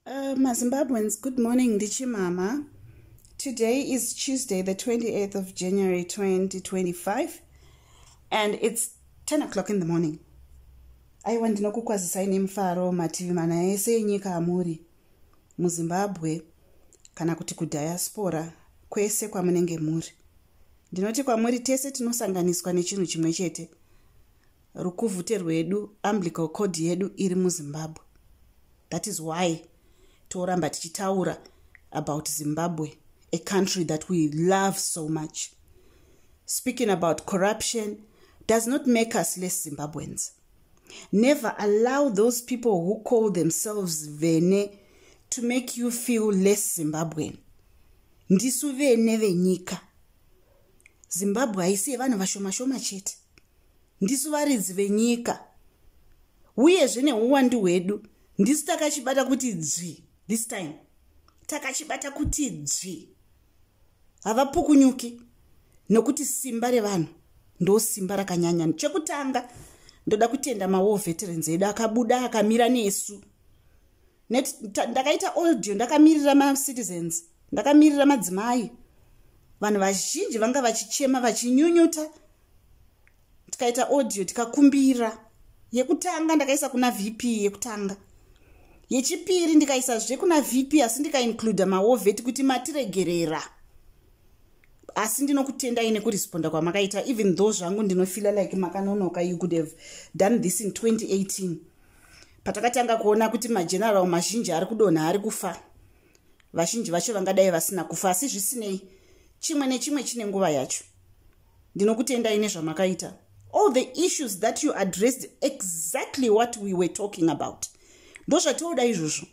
Uh, mazimbabweans good morning ndichimama today is tuesday the 28th of january 2025 and it's 10 o'clock in the morning aiwa ndinokukwazisai nemufaro mativi mana ese enyika amuri muzimbabwe kana kuti kudiaspora kwese kwamunenge muri ndinoti kwamuri tese tinosanganiswa nechinhu chimwe chete rukuvhute rwedu umbilical cord yedu iri muzimbabwe that is why toramba tichitaura about zimbabwe a country that we love so much speaking about corruption does not make us less zimbabweans never allow those people who call themselves vene to make you feel less zimbabwean ndisu vene venyika zimbabwe haisi yevanhu vashomashoma chete ndisu varidzi venyika uyezve neuwandu hwedu ndisu takachibata kuti dzvi this time takachibata kuti dzvi havapukunyuki nokuti simba revanhu ndo simba rakanyanya chekutanga ndoda kutenda mawar veterans edu akabuda akamira nesu net ndakaita oldio ndakamirira macitizens ndakamirira madzimai vanhu vazhinji vanga vachichema vachinyunyuta tikaita audio tikakumbira yekutanga ndakaisa kuna vp yekutanga yechipiri ndikaisa zve kuna vp asi ndikaincluda maoveti kuti matiregerera asi ndinokutendai nekuresponda kwamakaita even though zvangu ndinofila like makanonoka you could have done this in 2018 patakatanga kuona kuti mageneral mazhinji ari kudonha ari kufa vazhinji vacho vangadai vasina kufa asi zvisinei chimwe nechimwe chine nguva yacho ndinokutendai nezvamakaita all the issues that you addressed exactly what we were talking about ndozvatioda izvozvo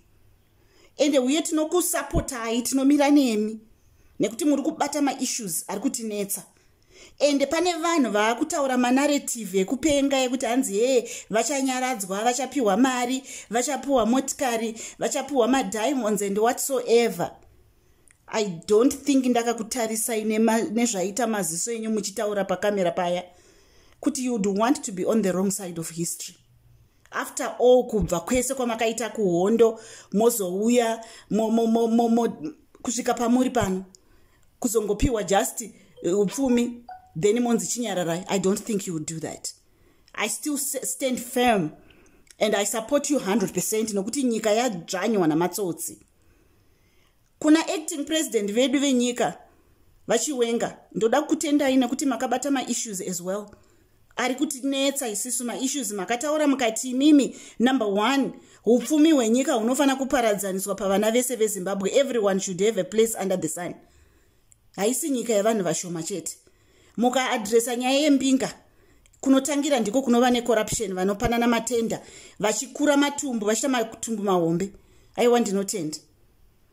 ende uye tinokusapotai tinomira nemi nekuti muri kubata maissues ari kutinetsa ende pane vanhu vaakutaura manaretive ekupenga yekuti hanzi hee vachanyaradzwa vachapiwa mari vachapiwa motikari vachapiwa madiamonds and whatsoever i don't think ndakakutarisai nezvaita maziso enyu muchitaura pakamera paya kuti you would want to be on the wrong side of history after all kubva kwese kwamakaita kuhondo mozouya kusvika pamuri pano kuzongopiwa just uh, upfumi then monzi chinyararai i don't think you would do that i still stand firm and i support you 100 percent nokuti nyika yadzvanywa namatsotsi Kuna acting president vedu venyika vachiwenga ndoda kutendai nekuti makabata maissues as well ari kutinetsa isisu maissues makataura mukati imimi number one upfumi hwenyika hunofanira kuparadzaniswa pavana vese vezimbabwe everyone should have a place under the sun haisi nyika yevanhu vashoma chete mukaadresa nyaya yembinga kunotangira ndiko kunova necorruption vanopanana matenda vachikura matumbu vachita matumbu mahombe aiwa ndinotenda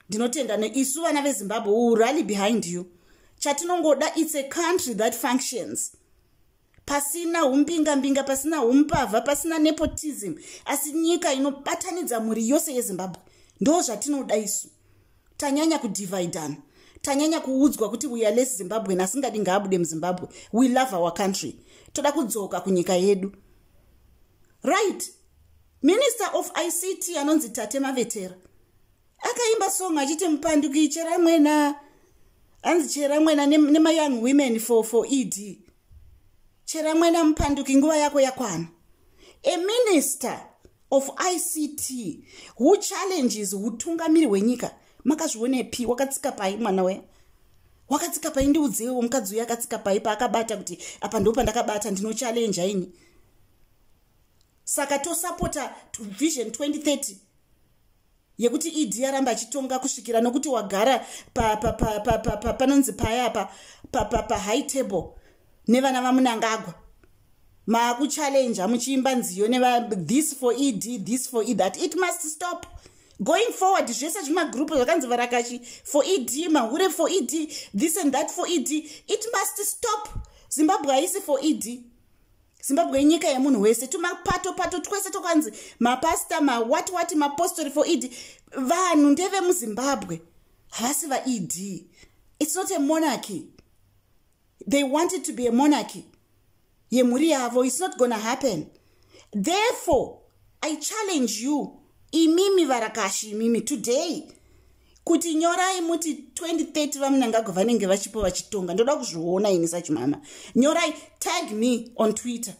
ndinotenda neisu vana vezimbabwe will rally behind you chatinongoda its a country that functions pasina umbingambinga pasina umbavha pasina nepotism asi nyika inobatanidza mhuri yose yezimbabwe ndo zvatinoda isu tanyanya kudividana tanyanya kuudzwa kuti we are less zimbabwen asingadi ngaabude muzimbabwe we love our country toda kudzoka kunyika yedu right minister of ict anonzi tate mavetera akaimba song achiti mupanduki chera mwena anzi chera mwena nemayoung ne women for, for ed chera mwena mupanduki nguva yako yakwana a minister of ict who challenges utungamiri hwenyika makazvionepi wakatsika pai mwana we wakatsika pai ndiudzewo mukadzi uyo akatsika pai paakabata kuti apa ndo pandakabata ndinochallenja ini saka tosapota vision 2030 yekuti ed yaramba achitonga kusvikira nokuti wagara panonzi paya pa pahigh table nevana vamunangagwa maakuchallenja muchiimba nziyo this for ed this for ed that it must stop going forward zvese zvemagroup zvakanzi varakashi for ed mahure for ed this and that for ed it must stop zimbabwe haisi for ed zimbabwe inyika yemunhu wese tumapato pato twese tokwanzi mapasta mawat wati mapostori for ed vanhu ndevemuzimbabwe havasi vaed its not a monarchy they wanted to be a monarchy yemhuri yavo its not gonna happen therefore i challenge you imimi varakashi imimi today kuti nyorai muti 2030 vamunangagwa vanenge vachipo vachitonga ndoda kuzviona ini sachimama nyorai tag me on twitter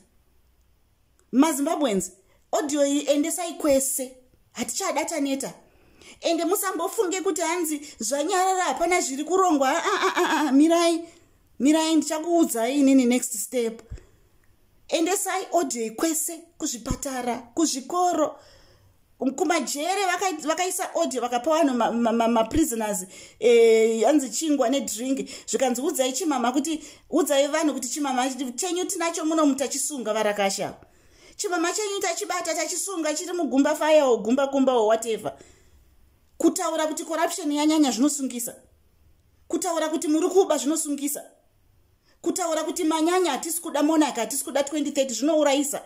mazimbabwens audio iyi endesai kwese hatichada taneta ende musambofunge kuti hanzi zvanyarara hapana zviri kurongwa aa ah, ah, ah, mirai mirai ndichakuudzai inini next step endesai odhei kwese kuzvipatara kuzvikoro kumajere vakaisa odhe vakapa vanhu maprisoners ma, ma, ma eh, yanzi e, chingwa nedrink zvikanzi udzai chimama kuti udzai vanhu kuti chimama chenyu tinacho muno mutachisunga varakasha chimama chenyu tachibata tachisunga chiri mugumba faya o gumba kumba o whatever kutaura kuti corruption yanyanya zvinosungisa kutaura kuti muri kuba zvinosungisa kutaura kuti manyanya hatisi kuda monaka hatisi kuda 2030 zvinourayisa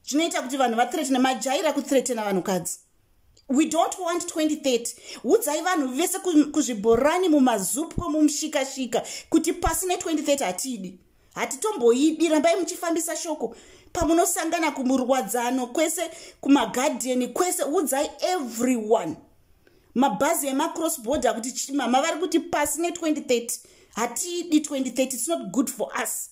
zvinoita kuti vanhu vathretene majaira kuthretena vanhukadzi we don't want 2030 udzai vanhu vese kuzvibhorani mumazupko mumushikashika kuti pasi ne2030 hatidi hatitomboidi rambai muchifambisa shoko pamunosangana kumurwadzano kwese kumagadheni kwese udzai everyone mabhazi emacross border kuti chimama vari kuti pasi ne2030 hatiidi 2030 its not good for us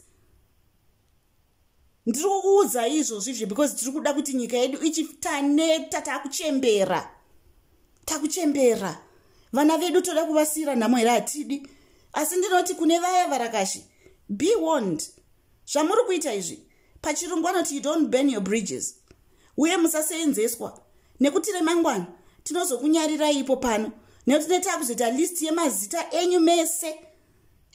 ndiri kukuudza izvozvi izvi because tiri kuda kuti nyika yedu ichitaneta takuchembera takuchembera vana vedu toda kuvasiyira nhamo here hatidi asi ndinoti kune vaya varakashi be warned zvamuri kuita izvi pachirungu anoti you don't burn your bridges uye musaseenzeswa nekuti remangwana tinozokunyarirai ipo pano nekuti tineta kuzoita list yemazita enyu mese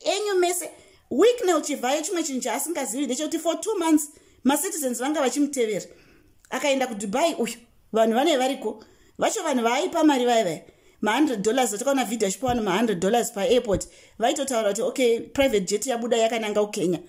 enyu mese wicknel chivhayo chimwe chinhu chaasingazivi ndechekuti for two months macitizens vanga vachimutevera akaenda kudubai uyu vanhu vane variko vacho vanhu vaaipa mari vaya vaya ma100 dollars atakaona vhidhi achipa vanhu ma100 dollars paairport vaitotaura kuti okay private jet yabuda yakananga kukenya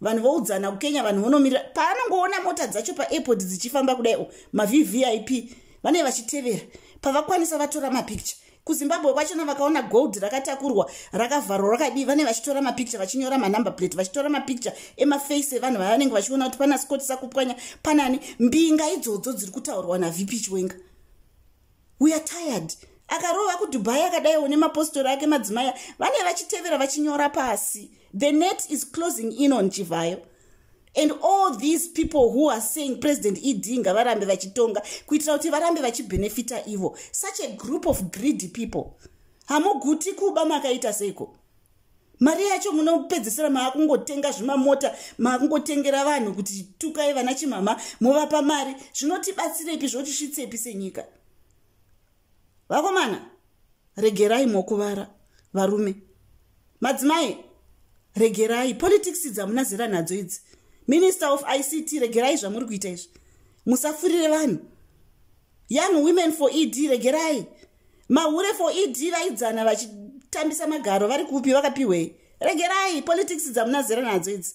vanhu voudzana kukenya vanhu vonomirira paanongoona mota dzacho paairport dzichifamba kudai o mavvip vane vachitevera pavakwanisa vatora mapicture kuzimbabwe kwachona vakaona gold rakatakurwa rakavharwa rakadii vane vachitora mapicture vachinyora manumber plate vachitora mapicture emaface evanhu vavanenge vachiona kuti pana scott sakupwanya panani mbinga idzodzo dziri kutaurwa navp chiwenga we are tired akarova kudubai akadaiwo nemapostori ake madzimai vane vachitevera vachinyora pasi the net is closing in on chivhayo and all these people who are saying president ed ngavarambe vachitonga kuitira kuti varambe vachibhenefita ivo such a group of greedy people hamuguti kuba makaita seiko mari yacho munopedzisira maakungotenga zvimamota maakungotengera vanhu kuti tukai vana chimhama movapa mari zvinotibatsirepi zvotisvitsepi senyika vakomana regerai mokuvara varume madzimai regerai politics dzamuna zera nadzo idzi minister of ict regerai zvamuri kuita izvi musafurire vanhu young women for ed regerai mahure for ed vaidzana vachitambisa magaro vari kupi vakapiwei regerai politics dzamunazera nadzo idzi